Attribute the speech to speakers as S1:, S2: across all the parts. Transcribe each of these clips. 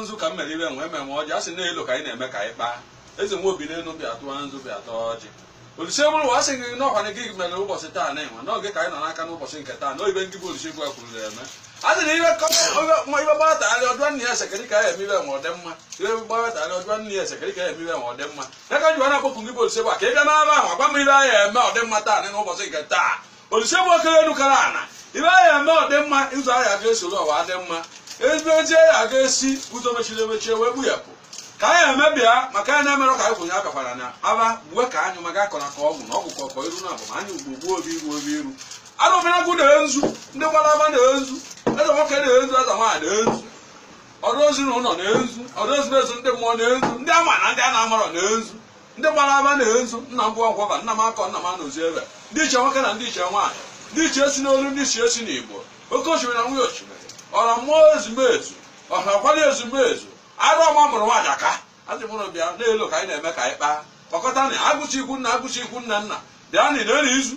S1: nzu ka m mere ibe nwe eme nwe ọjị a sị na elo ka anyị na-eme ka anyị kpaa eze nwe obi n'elu bịa tụọ nzu bịa taa ọjị olise buru ụwa sị gị n'ọkwa na gị mere ụbọchị taa na enwe n'oge ka anyị nọ n'aka n'ụbọchị nke taa na ọ ibe ngị bụ olise bu ụwa kwuru na-eme a sị na ibe ibe gbara nwata gharị ọ jụọ nna ya esekere ka ya eme ibe nwe ọdị mma ibe gbara nwata gharị ọ jụọ nna ya esekere ka ya eme ibe nwe ọdị mma ya ka e ji wee na-akpọku gị bụ olise bu ụwa ka ị bịa n'aba ahụ agwa m ibe anyị eme ọdị mma taa na n'ụbọchị nke taa olise bu ụwa kere elu kere ana ibe anyị eme ọ dị mma ụzọ anyị aga esoro ụwa adị mma ezigbo eji anyị aga esi ụzọ mechiri emechie wee gbuyapụ ka anyị emebịa maka anyị na-emerụ ka anyị kwụnye abịakwara na aba uwe ka anyị maka akọrọ ka ọgwụ na ọgwụ ka ọkọ iru na abụ ma anyị ugbo gbuo obi iru obi iru arọbịnagụ nee nzu ndị gbara ama nee nzu eze nwoke nee nzu eze nwaanyị nee nzu ọrụ ozi na ụlọ nee nzu ọrụ ozi na ezi ndị mmụọ nee nzu ndị ama na ndị a na-amarọ nee nzu ndị gbara ama nee nzu nna m bụ ọkwaba nna m akọ nna m anụzi ebe ndị iche nwoke na ndị iche nwaanyị ndị iche esi n'olu ndị iche esi n'igbo oke osimiri na nwunye osimiri ọra mmụọ ezumezu ọha kwara ezumezu arụ ọma mụrụ nwaanyị aka azị mụrụ bịa na-elo ka anyị na-eme ka anyị kpaa kpakọta na agwụsị ikwu nne agwụsị ikwu nne nna bịa nara nzu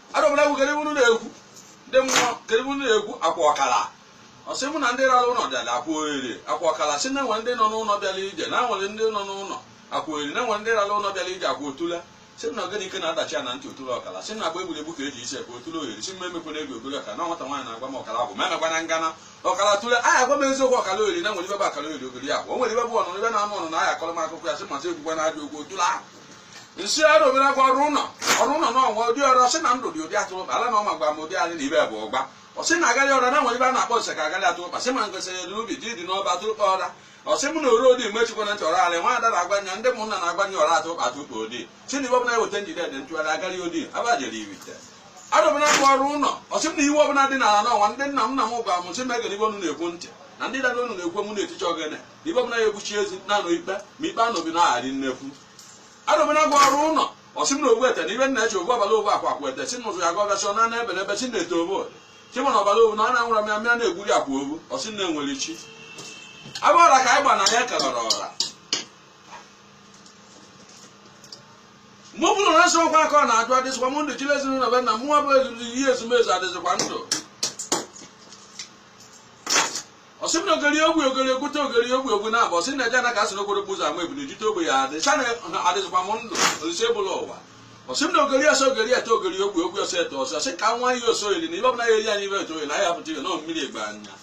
S1: arọbịnagụ kedu unu na-ekwu ndị mmụọ kedu unu na-ekwu akwụ ọkala ọ sị mụ na ndị rara ụlọ bịara akwụ ohere akwụ ọkala si na nwere ndị nọ n'ụlọ bịara ije na nwere ndị nọ n'ụlọ akwụ ohere na nwere ndị rara ụlọ bịara ije akwụ otule si na ogene ike na-adachi ya na ntị otule ọkala si na agba egwuregwu ka eji isi ekwe otule ohere si mma emekwana egwu ogori ọkala na nwata nwaanyị na-agwa m ọkala agwụ ma emekwana ngana ọkala otule agwa m eziokwu ọkala ohere na nwere ibe bụ ọkala ohere ogori ya o nwere ibe bụ ọnụ ibe na-anụ ọnụ na ahịa akọrọ m akụkọ ya sị m asị ekwukwana ajọ okwu otule ahụ nsị arọbịnagụ ọrụ ụlọ ọrụ ụlọ na ọnwa ụdị ọrụ ọsị na ndụ dị odi atụrụkpa ala na ọma gwa m ụdị anyị na ibe bụ ụgba ọsị na agarị ọra na nwere ibe a na-akpọ nse ka agarị atụrụkpa sị ma ngosị dị n'ubi ji dị n'ọba atụrụkpa ọra ọsị mụ na oro odi mgbe chikwa na ntị ọra alị nwa ada na-agwa nya ndị ụmụnna na-agwa nya ọra atụrụkpa atụrụkpa odi si na ibe ọbụla eweta njide dị ntụgharị agarị odi abajere ijite arọbịnagụ ọrụ ụlọ ọsị m na ibe ọbụla dị n'ala n'ọnwa ndị nna m nna m gwa m sị m egere ibe unu na-ekwu ntị na ndị dada unu na-ekwu mụ na-eticha ogene ibe ọbụla ya egbuchi ezi na-anụ ikpe ma ikpe anọbi na-agharị nnekwu arọbịnagụ ọrụ ụlọ ọsị m na ogbu ete na ibe nna eche ogbu abalị ogbu akwa akwa ete si n'ụzụ ya gwa gasị na na ebe na ebe si na-eto obo chi mana ọbara obu na ọ na-anwụra m ya mịa na-egburi akwa obu ọsị na enwere chi abụ ọra ka anyị gba na ya ekebara ọra mgbe ọ bụla na nsọ ọkwa aka ọ na-ajụ adịzịkwa m ndụ chile ezinụlọ be nna m nwa bụ ezumike ihe ezumezu adịzịkwa ndụ ọsị m na ogori ogbe ogori okwute ogori ogbe ogwu na-abụ ọsị na eje na ka asị na okporo ụzọ ama ebili ijite ogbe ya adị sa na adịzikwa m ndụ olise buru ụwa ọsị m na ogori ọsọ ogori ete ogori ogbe ogbe ọsọ ete ọsọ ọsị ka nwa ihe ọsọ oyiri na ibe ọbụla ya eri anyị ibe eto oyiri na anyị apụta ihe na mmiri egbe anya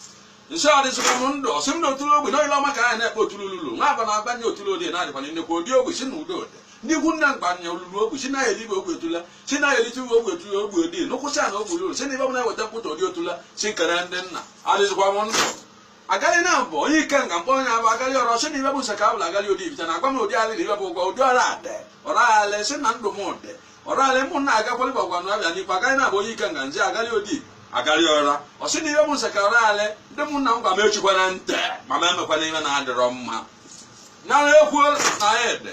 S1: nso adịzikwa m ndụ ọsị m na otule ogbe na oyile ọma ka anyị na-ekpe otule ululu nwa agba na-agba nye otule odi na-adịkwa na nnekwu odi ogbe si na udo odi ndị ikwu nna mgba nya olulu ogbe si na ya elibe ogbe otule si na elite uwe ogbe tụrụ ogbe dị nụkwụsị na ogbe ruru si na ibe ọbụla weta pụta ụdị otula si nkere ndị nna adịzikwa m ndụ agali na mbụ onye Ikenga mkpọ onye abụ agali ọrụ si na ibe bụ nsa ka abụla agali ụdị Ifite na agwa m ụdị alị na ibe bụ ụgwọ ụdị ọrụ adị ọrụ alị si na ndụ m ụdị ọrụ alị mụ na agakwali bụ ọgwanụ abịa n'ikpe agali na abụ onye Ikenga nje agali ụdị agali ọra ọ sị na ibe bụ nsa ka ọrụ alị ndị mụ na m gwa m echikwana ntị ma m emekwana ife na-adịrọ mma na ekwu na ede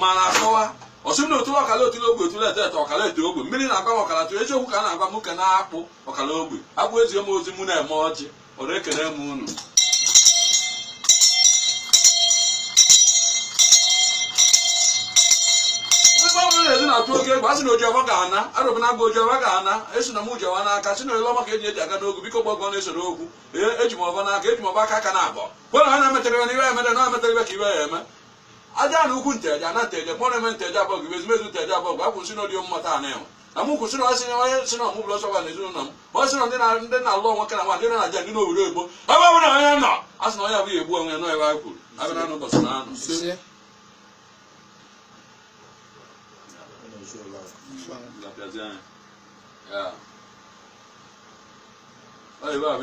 S1: ma na-akọwa ọsị m na otula ọkala otula ogbe otula ete ete ọkala ete ogbe mmiri na-agwa m ọkala tụ eziokwu ka a na-agwa m ka na-akpụ ọkala ogbe abụ ezie m ozi mụ na-eme ọjị ọ na-ekele m unu ndị ọbụla na-ezi na-atụ oke egwu a sị na oji ọfọ ga-ana arụbụ na agụ oji ọfọ ga-ana esi na m ji ọfọ n'aka si na ele ọma ka eji eji aga n'ogwu biko gbagọ na-esoro okwu ee eji m ọfọ n'aka eji m ọfọ aka aka na abụọ kwena ha na-emetere ya na iwe ya emere na emetere ife ka ibe ya eme aja na ukwu nteje na nteje kpọrọ eme nteje abọgụ ezumezu nteje abọgụ akwụsị n'ọdị mmụta a na-enwe na mụ kwụsịrị ọsị na onye si na ọmụ bụrụ ọsọgwa na ezinụlọ m ọ sị na ndị na- ndị na-alụ onwe ka na nwa ndị na aja ndị n'obodo oyibo ebe ọ bụla onye nọ a sị na onye abụghị egbu onwe ya nọ ebe a kwuru abịa na ụbọchị na anụ ise Lapịazi anya. Ya. Ọ ebe a bụ